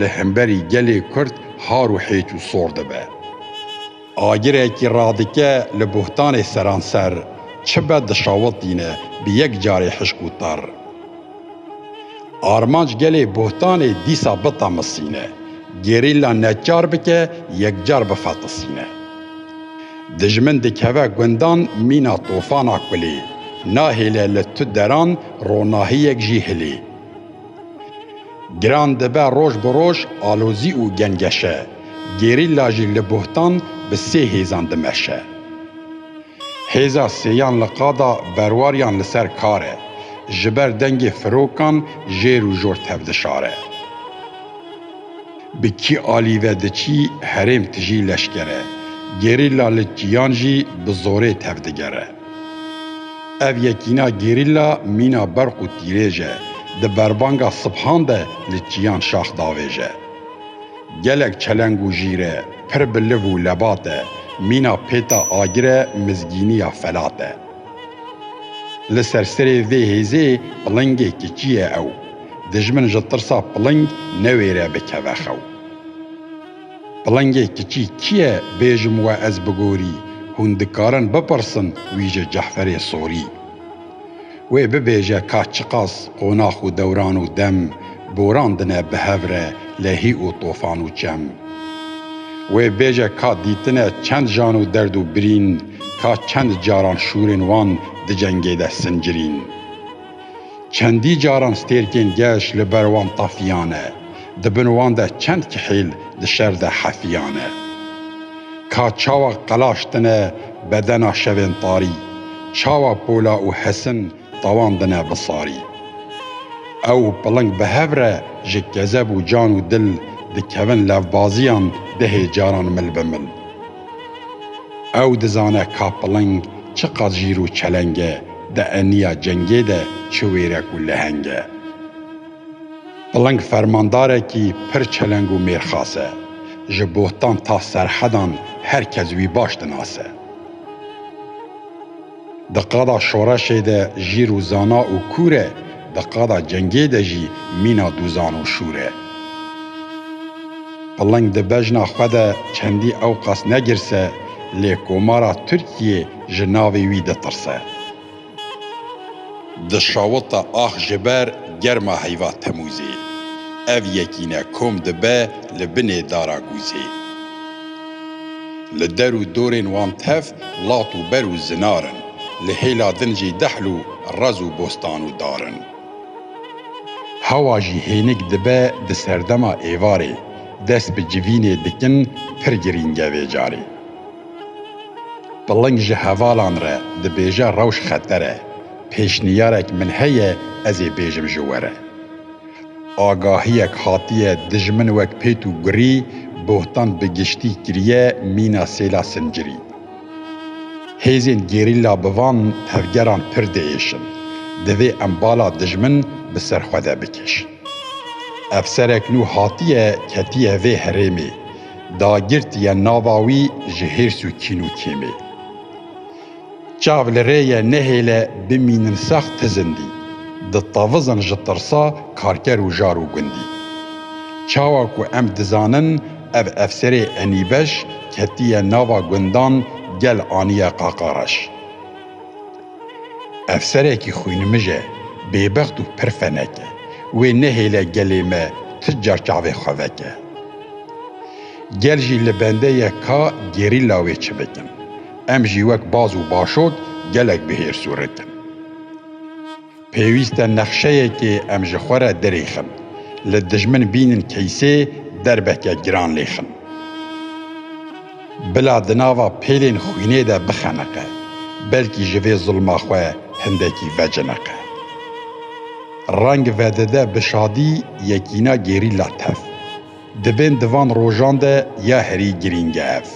Li hemberî gelê Kurd har û hêç û sor dibe. Agirekî radike li buhtanê seranser çi be dişawitîne bi yek carê hişk û tar. Armanc gelê buhtanê dîsa bitemisîne, gerîlla neçar bike yekcar bifetisîne. Dijmin dikeve gundan mîna tofana kulê, nahêle li tu deran ronahiyek jî hilê. Giran dibe roj bi roj alozî û gengeşe, gerîlla jî li bohtan bi sê hêzan dimeşe. Hêza sêyan li qada berwariyan li ser kar e, ji ber dengê firokan jêr û jor tevdişare. Bi kî alî ve diçî herêm tijî leşkere, gerîlla li kîyan jî bi zorê tevdigere. Ev yekîna gerîla mîna berq û tîrêj e, di berbanga sibhan de li çiyan şax davêje. Gelek çeleng û jîr e, pir bi liv û lebat e, mîna pêta agir e mizgînî ya felat e. Li ser serê vê hêzê pilingê kiçî ye ew, dijmin ji tirsa piling newêre bikeve xew. Pilingê kiçî kî ye bêjim we ez bi gorî hûn dikarin bipirsin wî ji Cehferê Sorî. Wê bibêje ka çiqas qonax û dewran û dem boran dine bi hev re lehî û tofan û çem. Wê bêje ka dîtine çend jan û derd û birîn ka çend caran şûrên wan di cengê de sincirîn. Çendî caran stêrkên geş li ber wan tafiyane, di bin wan de çend kihêl di şer de hefiyane. Ka çawa qelaştine bedena şevên tarî, çawa pola û hesin tawandine bi sarî. Ew piling bi hev re ji kezeb û can û dil dikevin levbaziyan dehê caran mil bi mil. Ew dizane ka piling çiqas jîr û çeleng e, di eniya cengê de çi wêrek û leheng e. Piling fermandarekî pir çeleng û mêrxas e. Ji bohtan ta serhedan her kes wî baş dinase. Di qada şoreşê de jîr û zana û kûr e, di qada cengê de jî mîna dûzan û şûr e. Piling di bejna xwe de çendî ewqas negirse, lê Komara Tirkiyê ji navê wî ditirse. Di şawita ax ji ber germa heyva Temûzê, ev yekîne kom dibe li binê dara gûzê. Li der û dorên wan tev lat û ber û zinar in, li hêla din jî dehl û rez û bostan û dar in. Hewa jî hênik dibe di serdema êvarê, dest bi civînê dikin pir girîng e vê carê. Piling ji hevalan re dibêje rewş xeter e, pêşniyarek min heye ez ê bêjim ji we re. Agahiyek hatiye dijmin wek pêt û gurî bohtan bi giştî kiriye mîna sêla sincirî. Hêzên gerîla bi van tevgeran pir diêşin. Divê em bala dijmin bi ser xwe de bikêşin. Efserek nû hatiye ketiye vê herêmê, dagirtiye nava wî ji hêrs û kîn û kêmê. Çav li rê ye nehêle bimînin sex ti zindî Di tevizin ji tirsa karker û jar û gundî Çawa ku em dizanin ev efserê enîbeş Ketiye nava gundan gel aniye qaqa reş Efserekî xwînimij e bêbext û pir fenek e Wê nehêle gelê me ti car çavê xwe veke Gel jî li bende ye ka gerîla wê çi bikin Em jî wek baz û başot gelek bi hêrs û rit in. Pêwîst e nexşeyekê em ji xwe re dirêxin, li dijmin bînin keysê derbeke giran lêxin. Bila di nava pêlên xwînê de bixeniqe, belkî ji vê zilma xwe hindekî veciniqe. Reng vedide bi şadî yekîna gerîla tev. Di bên di van rojan de ya herî girîng e ev.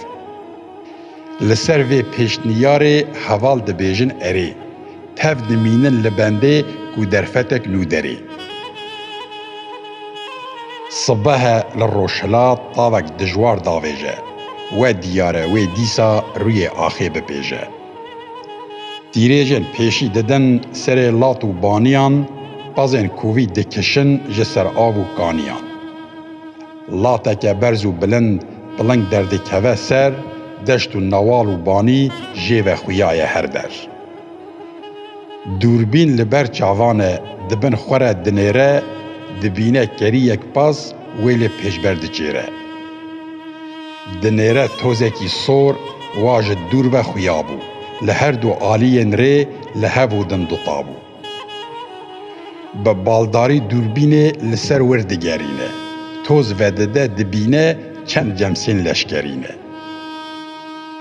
Li ser vê pêşniyarê heval dibêjin erê, tev dimînin li bendê ku derfetek nû derê. Sibehe li Rojhilat tavek dijwar davêje. We diyar e wê dîsa rûyê axê bipêje. Tîrêjên pêşî didin serê lat û baniyan, pezên kovî dikişin ji ser av û kaniyan. Lateke berz û bilind piling derdikeve ser, deşt û newal û banî jê ve xuyaye her der. Dûrbîn li ber çavan e, di bin xwe re dinêre, dibîne keriyek pez wê lê pêşber diçêre. Dinêre tozekî sor wa ji dûr ve xuya bû, li her du aliyên rê li hev û din dutabû. Bi baldarî dûrbînê li ser wir digerîne, toz vedide dibîne çend cemsên leşkerî ne.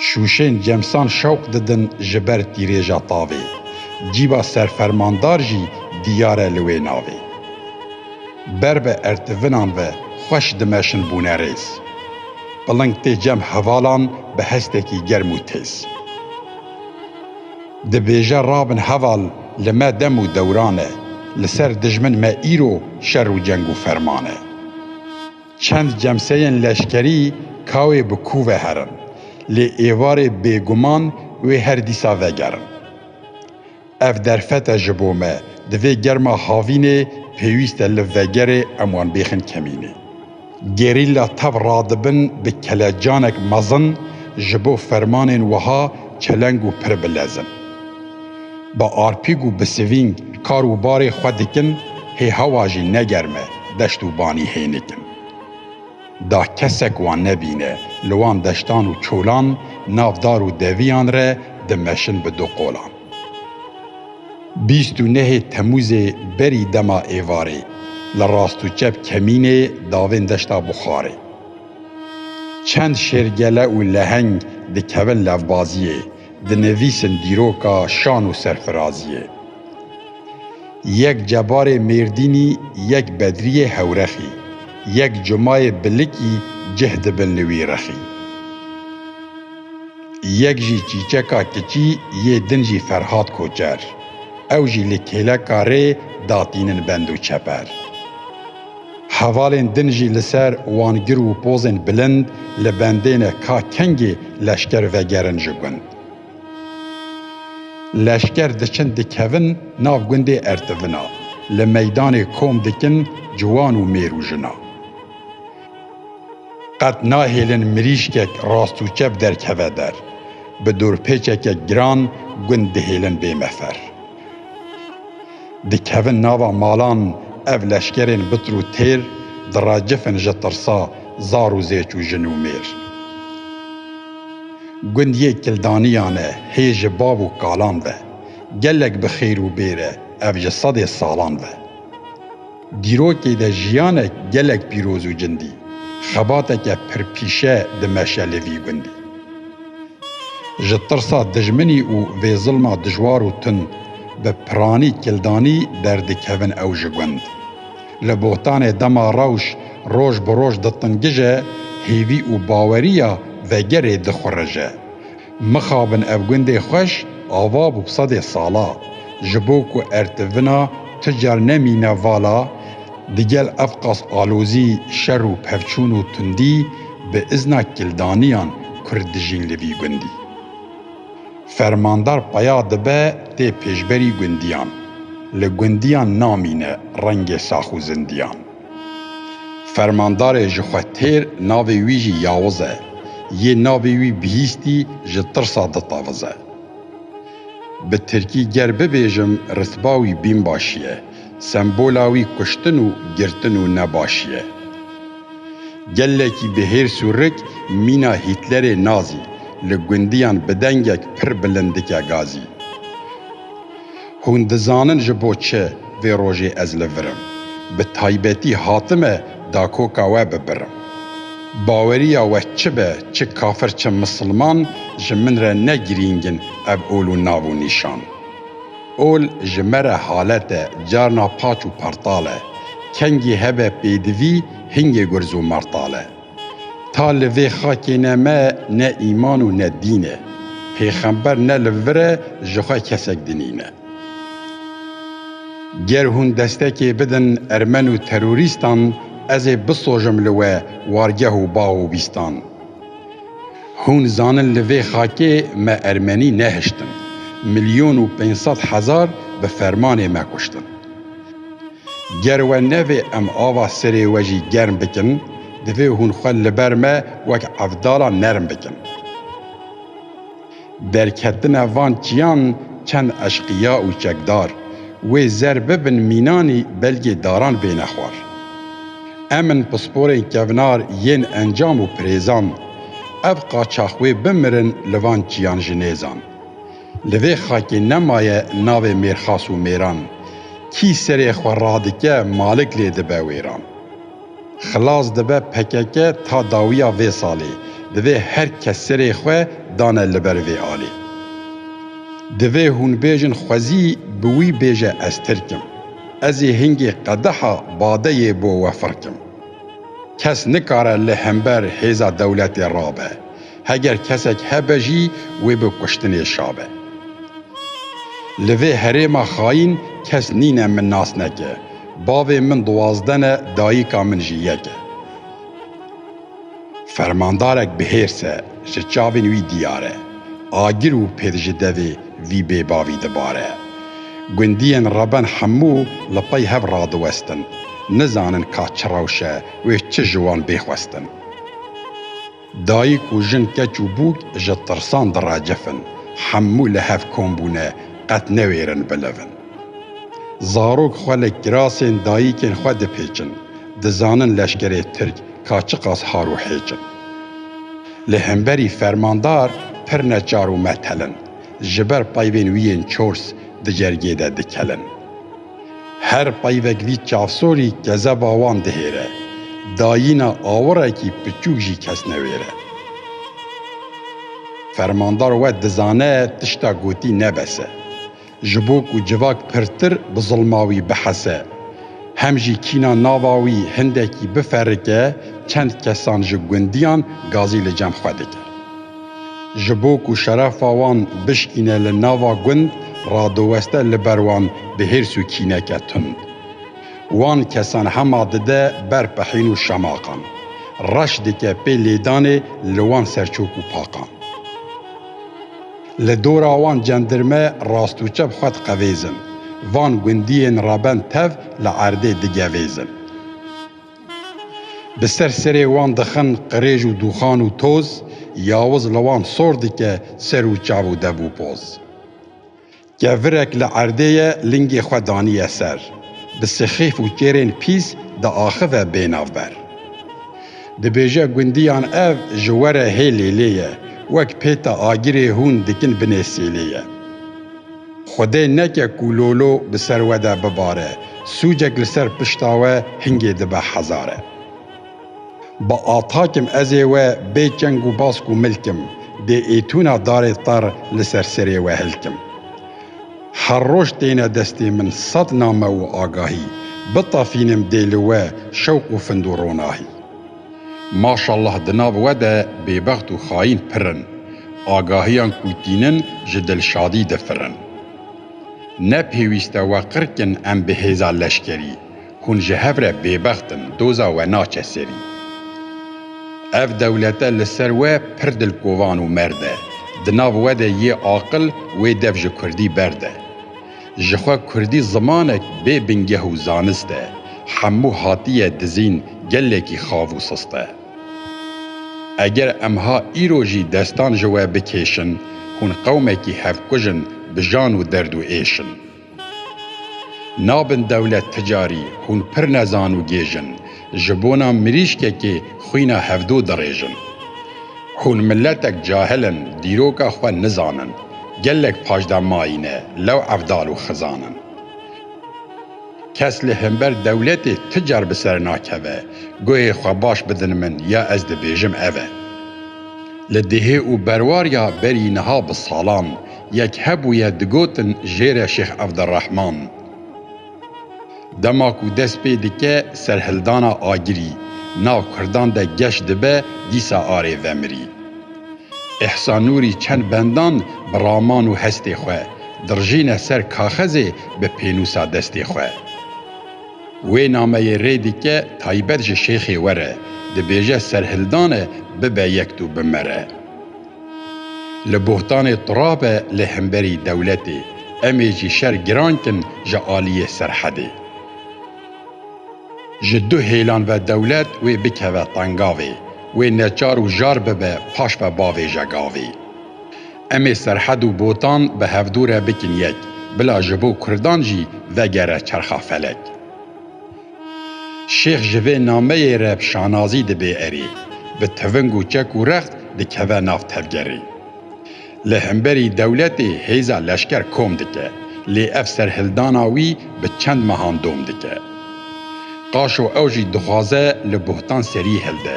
Şûşên cemsan şewq didin ji ber tîrêja tavê, cîba serfermandar jî diyar e li wê navê. Ber bi ertivinan ve xweş dimeşin bûne rêz. Piling tê cem hevalan bi hestekî germ û têz. Dibêje rabin heval li me dem û dewran e, li ser dijmin me îro şer û ceng û ferman e. Çend cemseyên leşkerî kawê bi kû ve herin, lê êvarê bêguman wê her dîsa vegerin. Ev derfet e ji bo me. Di vê germa havînê pêwîst e li vegerê em wan bêxin kemînê. Gerîlla tev radibin bi kelecanek mezin ji bo fermanên wiha çeleng û pir bilezin. Bi arpîg û bi sivîng kar û barê xwe dikin, hê hewa jî ne germ e, deşt û banî hênik in. Da kesek wan nebîne. Li wan deştan û çolan, nav dar û deviyan re dimeşin bi du qolan. Bîst û nehê Temûzê berî dema êvarê, li rast û çep kemînê davên deşta Buxarê. Çend şêrgele û leheng dikevin levbaziyê, dinivîsin dîroka şan û serfiraziyê. Yek cebarê Mêrdînî yek bedrîyê Hewrexî yek cumayê Bilikî cih dibin li wî rexî. Yek jî çîçeka kiçî yê din jî Ferhat Koçer ew jî li kêleka rê datînin bend û çeper. Hevalên din jî li ser wan gir û pozên bilind li bendê ne ka kengê leşker vegerin ji gund. Leşker diçin dikevin nav gundê Ertivina, li meydanê kom dikin ciwan û mêr û jina. Qet nahêlin mirîşkek rast û çep derkeve der. Bi dorpêçeke giran gund dihêlin bê mefer. Dikevin nava malan ev leşkerên bitir û têr Diracifin ji tirsa zar û zêç û jin û mêr. Gund yê Kildaniyan e hê ji bav û kalan ve, Gelek bi xêr û bêr e ev ji sedê salan ve. Dîrokê de jiyanek gelek pîroz û cindî, xebateke pirpîşe dimeşelê vî gundî. Ji tirsa dijminî û vê zilma dijwar û tund bi piranî kildanî derdikevin ew ji gund. Li bohtanê dema rewş roj bi roj ditingije, hêvî û baweriya vegerê dixurije. Mixabin ev gundê xweş ava bû sedê sala. Ji bo ku ertivina tu car nemîne vala, digel ev qas alozî, şer û pevçûn û tundî bi izna kildaniyan kurd dijîn li vî gundî. Fermandar peya dibe tê pêşberî gundiyan. Li gundiyan namîne rengê sax û zindiyan. Fermandarê ji xwe têr navê wî jî Yawiz e. Yê navê wî bihîstî ji tirsa ditavize. Bi tirkî ger bibêjim ritba wî bînbaşî ye. Sembola wî kuştin û girtin û nebaşî ye. Gelekî bi hêrs û rik mîna Hîtlerê nazî, li gundiyan bi dengek pir bilind dike gazî. Hûn dizanin ji bo çi vê rojê ez li vir im? Bi taybetî hatime dakoka we bibirim. Baweriya we çi be, çi kafir çi misilman ji min re ne girîng in ev ol û nav û nîşan. Ol ji me re halet e, carna paç û partal e. Kengî hebe pêdivî, hingê gurz û martal e. Ta li vê xakê ne me ne îman û ne dîn e. Pêxember ne li vir e ji xwe kesek dinîne. Ger hûn destekê bidin ermen û terorîstan ez ê bisojim li we wargeh û bax û bîstan. Hûn zanin li vê xakê me ermenî nehiştin. Milyon û pênc sed hezar bi fermanê me kuştin. Ger we nevê em ava serê we jî germ bikin, divê hûn xwe li ber me wek evdalan nerm bikin. Derketina van çiyan çend eşqiya û çekdar, wê zer bibin mînanî belgê daran bêne xwar. Em in pisporên kevnar yên encam û pirêzan. Ev qaçax wê bimirin li van çiyan ji nêzan. Li vê xakê nemaye navê mêrxas û mêran, kî serê xwe radike malik lê dibe wêran. Xilas dibe pkk ta dawiya vê salê, divê her kes serê xwe dane li ber vê alê. Divê hûn bêjin xwezî bi wî bêje ez tirk im. Ezê hingê qedeha badeyê bo we firk im. Kes nikare li hember hêza dewletê rabe. Heger kesek hebe jî wê bi kuştinê şabe. Li vê herêma xayîn kes nîne min nas neke. Bavê min duwazdeh ne dayîka min jî yek e. Fermandarek bi hêrs e, ji çavên wî diyar e. Agir û pêd ji devê vî bêbavî dibare. Gundiyên Reben hemû li pey hev radiwestin. Nizanin ka çi rewş e wê çi ji wan bê xwestin. Dayik û jin keç û bûk ji tirsan diracifin, hemû li hev kom bûne qet newêrin bilivin. Zarok xwe li kirasên dayikên xwe dipêçin, dizanin leşkerê tirk ka çiqas har û hêç in. Li hemberî fermandar pir neçar û metel in, ji ber peyvên wî yên çors di cergê de dikelin. Her peyvekvî çavsorî kezeba wan dihêre, dayîna awirekî piçûk jî kes newêre. Fermandar we dizane tişta gotî ne bes e. Ji bo ku civak pirtir bi zilma wî bihese, hem jî kîna nava wî hindekî biferike, çend kesan ji gundiyan gazî li cem xwe dike. Ji bo ku şerefa wan bişkîne li nava gund radiweste li ber wan bi hêrs û kîneke tund. Wan kesan hema dide ber pehîn û şemaqan. Reş dike pê lêdanê li wan serçok û paqan. Li dora wan cendirme rast û çep xwe diqevêzin. Van gundiyên reben tev li erdê digevêzin. Bi ser serê wan dixin qirêj û dûxan û toz, yawiz li wan sor dike ser û çav û dev û poz. Kevirek li erdê ye lingê xwe daniye ser, bi sixîf û kêrên pîs diaxive bênav ber. Dibêje gundiyan ev ji we re hê lêlê ye, wek pêta agirê hûn dikin binê sêlê ye. Xwedê neke ku lolo bi ser we de bibare, sûcek li ser pişta we hingê dibe hezar e. Bi atakim ez ê we bê çeng û bask û milkim, bê êtûna darê tar li ser serê we hilkim. Her roj têne destê min sed name û agahî, bitafînim dê li we şewq û findû ronahî. Maşallah di nav we de bêbext û xayîn pir in, agahiyan ku tînin ji Dilşadî difirin. Ne pêwîst e we qirkin em bi hêza leşkerî, hûn ji hev re bêbext in, doza we naçe serî. Ev dewlete li ser we pir dilkovan û merd e, di nav we de yê aqil wê dev ji kurdî berd e. Ji xwe kurdî zimanek bê bingeh û zanist e, hemû hatiye dizîn gelekî xav û sist e. Eger em ha îro jî destan ji we bikêşin, hûn qewmekî hevkuj in bi jan û derd û êş in. Nabin dewlet ticarî, hûn pir nezan û gêj in. Ji bona mirîşkekê xwîna hevdo dirêjin. Hûn miletek cahil in, dîroka xwe nizanin. Gelek pajda mayîne, lew evdal û xizan in. Kes li hember dewletê tu car bi ser nakeve, guhê xwe baş bidin min ya ez dibêjim ev e. Li dihê û berwarya berî niha bi salan, yek hebûye digotin jêre Şêx Evdirehman. Dema ku dest pê dike serhildana agirî, na kurdan de geş dibe dîsa arê vemirî. Îhsan Nûrî çend bendan bi raman û hestê xwe dirijîne ser kaxezê bi pênûsa destê xwe. Wê nameyê rê dike taybet ji şêxê were, dibêje serhildane bibe yek dû bimere. Li bohtanê tira be li hemberî dewletê, em ê jî şer giran kin ji aliyê Serhedê. Ji du hêlan ve dewlet wê bikeve tengavê, wê neçar û jar bibe paş ve bavêje gavê. Em ê Serhed û Botan bi hevdûre bikin yek, bila ji bo Kurdan jî vegere çerxa felek. Şêx ji vê nameyê re bi şanazî dibe erê, bi tiving û çek û rext dikeve nav tevgerê. Li hemberî dewletê hêza leşker kom dike, lê ev serhildana wî bi çend mehan dom dike. Qaşo ew jî dixwaze li bohtan serî hilde,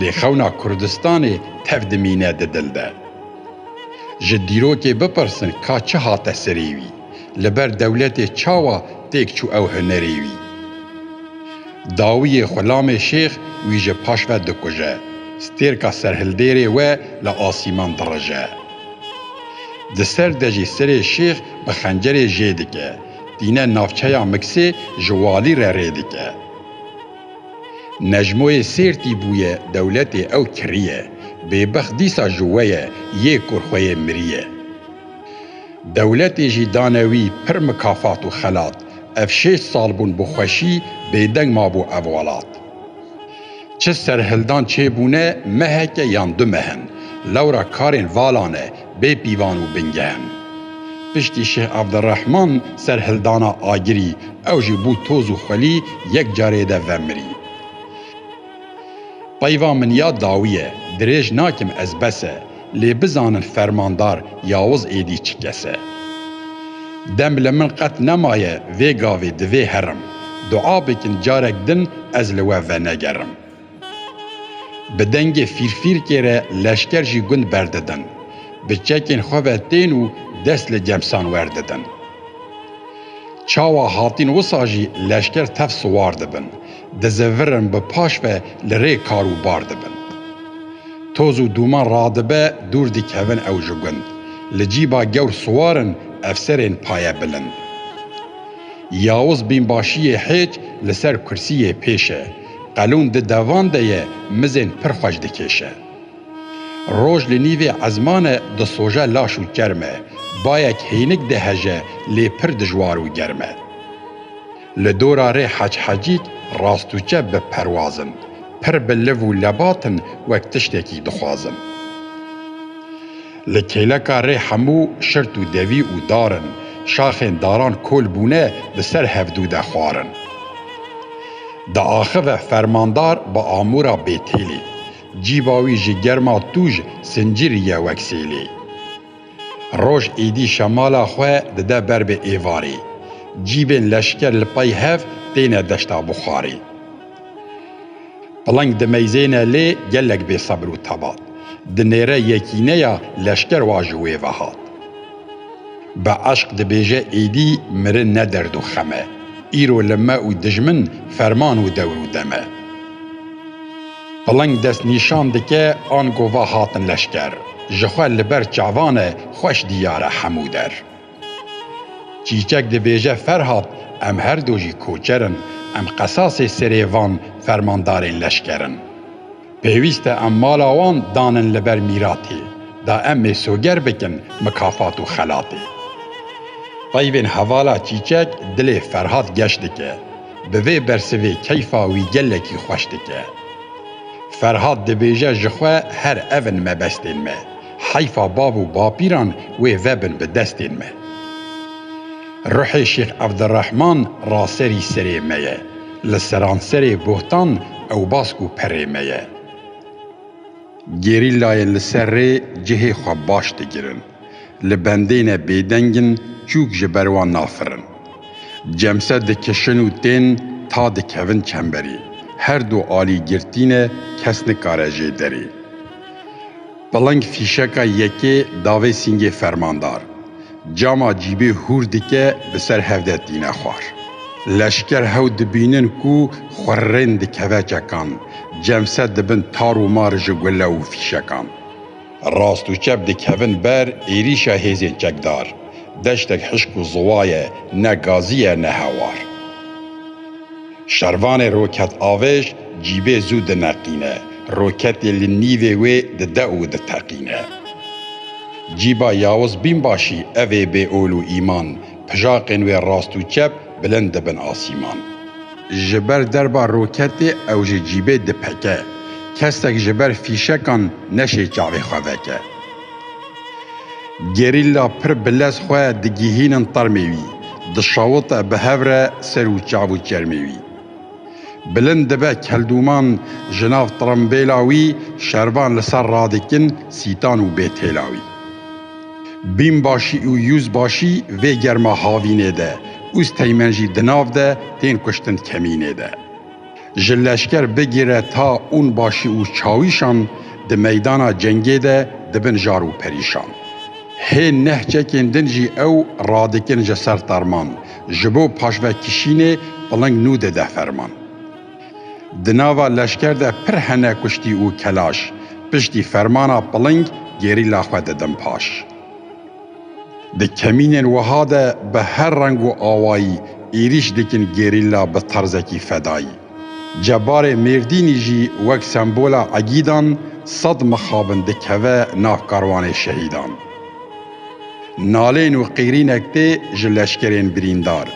lê xewna Kurdistanê tev dimîne di dil de. Ji dîrokê bipirsin ka çi hate serê wî? Li ber dewletê çawa têk çû ew hunerê wî? Dawiyê xulamê şêx wî ji paş ve dikuje, stêrka serhildêrê we li asîman dirije. Di ser de jî serê şêx bi xencerê jê dike, tîne navçeya Miksê ji walî re rê dike. Necmoyê Sêrtî bûye dewletê ew kiriye, bêbext dîsa ji we ye, yê kur xwe yê miriye. Dewletê jî dane wî pir mikafat û xelat. Ev şêst sal bûn bi xweşî bêdeng mabû ev welat. Çi serhildan çêbûne meheke yan du meh in. Lewra karên vala ne bê pîvan û bingeh in. Piştî Şêh Evdirehman serhildana Agirî ew jî bû toz û xwelî yek carê de vemirî. Peyva min ya dawî ye, dirêj nakim ez bes e, lê bizanin fermandar Yawuz êdî çi kes e. Dem li min qet nemaye vê gavê divê herim, dua bikin carek din ez li we venegerim. Bi dengê fîrfîrkê re leşker jî gund berdidin, bi çekên xwe ve tên û dest li cemsan werdidin. Çawa hatîn wisa jî leşker tev siwar dibin. Dizevirin bi paş ve li rê kar û bar dibin. Toz û dûman radibe dûr dikevin ew ji gund. Li cîba gewr siwar in efserên paye bilind. Yawiz bînbaşiyê hêç li ser kursiyê pêş e. Qelûn di devan de ye mizên pir xweş dikêşe. Roj li nîvê ezman e disoje laş û çerm e. Bayek hênik diheje lê pir dijwar û germ e. Li dora rê Hec Hecît rastûçe bi perwaz in. Pir bi liv û lebat in wek tiştekî dixwazin. Li kêleka rê hemû şirt û devî û dar in. Şaxên daran kol bûne bi ser hevdû de xwar in. Diaxive fermandar bi amûra bêtêlê. Cîba wî ji germa tûj sincirî ye wek sêlê. Roj êdî şemala xwe dide ber bi êvarê. Cîbên leşker li pey hev têne deşta Buxarê. Piling dimeyzêne lê gelek bêsebir û tebat. Di nêre yekîneya leşker wa ji wê ve hat. Bi eşq dibêje êdî mirin ne derd û xem e. Îro li me û dijmin ferman û dewr û dem e. Piling dest nîşan dike an gova hatin leşker ji xwe li ber çavan e xweş diyar e hemû der. Çîçek dibêje Ferhat em her du jî koçer in em qesasê serê van fermandarên leşker in. Pêwîst e em mala wan danin li ber mîratê da em ê soger bikin mikafat û xelatê. Peyvên hevala Çîçek dilê Ferhat geş dike. Bi vê bersivê keyfa wî gelekî xweş dike. Ferhat dibêje ji xwe her ev in mebestên me. Heyfa bav û bapîran wê vebin bi destên me. Ruhê Şêx Evdirehman raserî serê me ye. Li seranserê Bohtan ewbask û perê me ye. Gerîlayên li ser rê cihê xwe baş digirin. Li bendêne bêdeng in çûk ji ber wan nafirin. Cemse dikişin û tên ta dikevin çemberê. Her du alî girtî ne kes nikare jê derê. Piling fîşeka yekê davê sîngê fermandar. Cama cîbê hûr dike bi ser hev de tîne xwar. Leşker hew dibînin ku xurrên dikeve çekan. Cemse dibin tar û mar ji gule û fîşekan. Rast û çep dikevin ber êrîşa hêzên çekdar. Deştek hişk û ziwa ye, ne gazî ye ne hewar. Şervanê roketavêj cîbê zû dineqîne, roketê li nîvê wê dide û diteqîne. Cîba Yawiz Bînbaşî evê bê ol û îman, Pijaqên wê rast û çep bilind dibin asîman. Ji ber derba roketê ew ji cîbê dipeke. Kesek ji ber fîşekan neşê çavê xwe veke. Gerîlla pir bi lez xwe digihînin termê wî. Dişawite bi hev re ser û çav û çermê wî. Bilind dibe keldûman ji nav tirembêla wî şervan li ser radikin sîtan û bêtêla wî. Bînbaşî û yûzbaşî vê germa havînê de û steymên jî di nav de tên kuştin kemînê de. Ji leşker bigire ta ûnbaşî û çawîşan di meydana cengê de dibin jar û perîşan. Hê neh çekên din jî ew radikin ji ser terman, Ji bo paşvekişînê piling nû dide ferman. Di nava leşker de pir hene kuştî û kelaş piştî fermana piling gerîla xwe didin paş. Di kemînên wiha de bi her reng û awayî êrîş dikin gerîla bi terzekî fedayî. Cebarê Mêrdînî jî wek sembola egîdan sed mixabin dikeve nav karwanê şehîdan. Nalên û qîrînek tê ji leşkerên birîndar,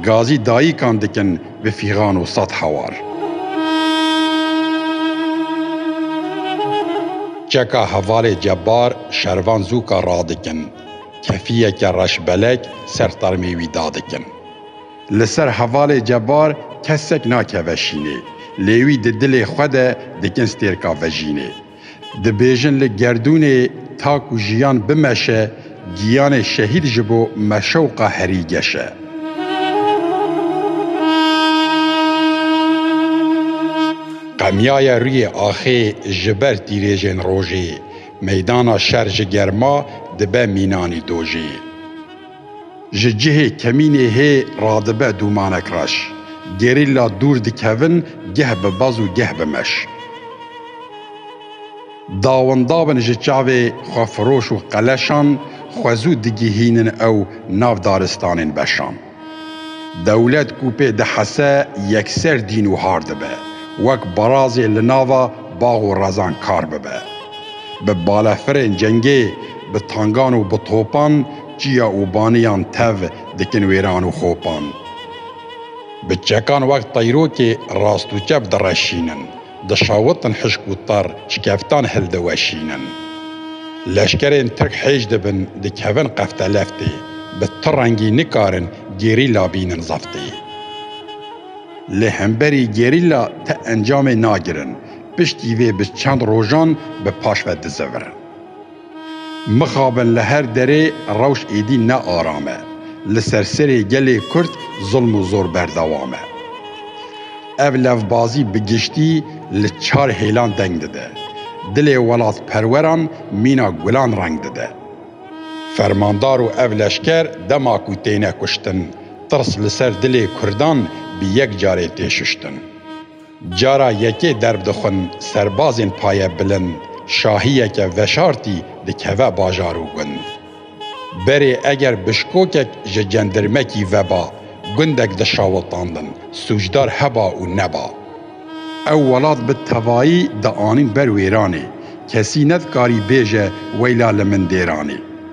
gazî dayîkan dikin bi fîxan û sed hewar. Çeka hevalê Cebar şervan zûka radikin, kefiyeke reşbelek ser termê wî dadikin. Li ser hevalê Cebar kesek nakeve şînê, lê wî di dilê xwe de dikin stêrka vejînê. Dibêjin li gerdûnê tak û jiyan bimeşe, giyanê şehîd ji bo me şewqa herî geş e. Qemiyaye rûyê axê ji ber tîrêjên rojê, meydana şer ji germa dibe mînanî dojê. Ji cihê kemînê hê radibe dûmanek reş. Gerîlla dûr dikevin geh bi baz û geh bi meş. Dawindawin ji çavê xwefiroş û qeleşan xwe zû digihînin ew nav daristanên beşan. Dewlet ku pê dihese yekser dîn û har dibe. Wek barazê li nava bax û rezan kar bibe. Bi balefirên cengê, bi tangan û bi topan Çiya û baniyan tev dikin wêran û xopan. Bi çekan wek teyrokê rast û çep direşînin. Dişawitin hişk û tar şikeftan hildiweşînin. Leşkerên tirk hêj dibin dikevin qefteleftê. Bi ti rengî nikarin gerîla bînin zeftê. Lê hemberî gerîla ti encamê nagirin. Piştî vê bi çend rojan bi paş ve dizevirin. Mixabin li her derê rewş êdî ne aram e. Li ser serê gelê Kurd zulm û zor berdewam e. Ev levbazî bi giştî li çar hêlan deng dide. Dilê welatperweran mîna gulan reng dide. Fermandar û ev leşker dema ku têne kuştin, tirs li ser dilê Kurdan bi yek carê tê şuştin. Cara yekê derb dixwin serbazên paye bilind şahiyeke veşartî dikeve bajar û gund. Berê eger bişkokek ji cendirmekî veba gundek dişawiltandin sûcdar heba û neba. Ew welat bi tevayî dianîn ber wêranê, kesî nedikarî bêje weyla li min dêranê.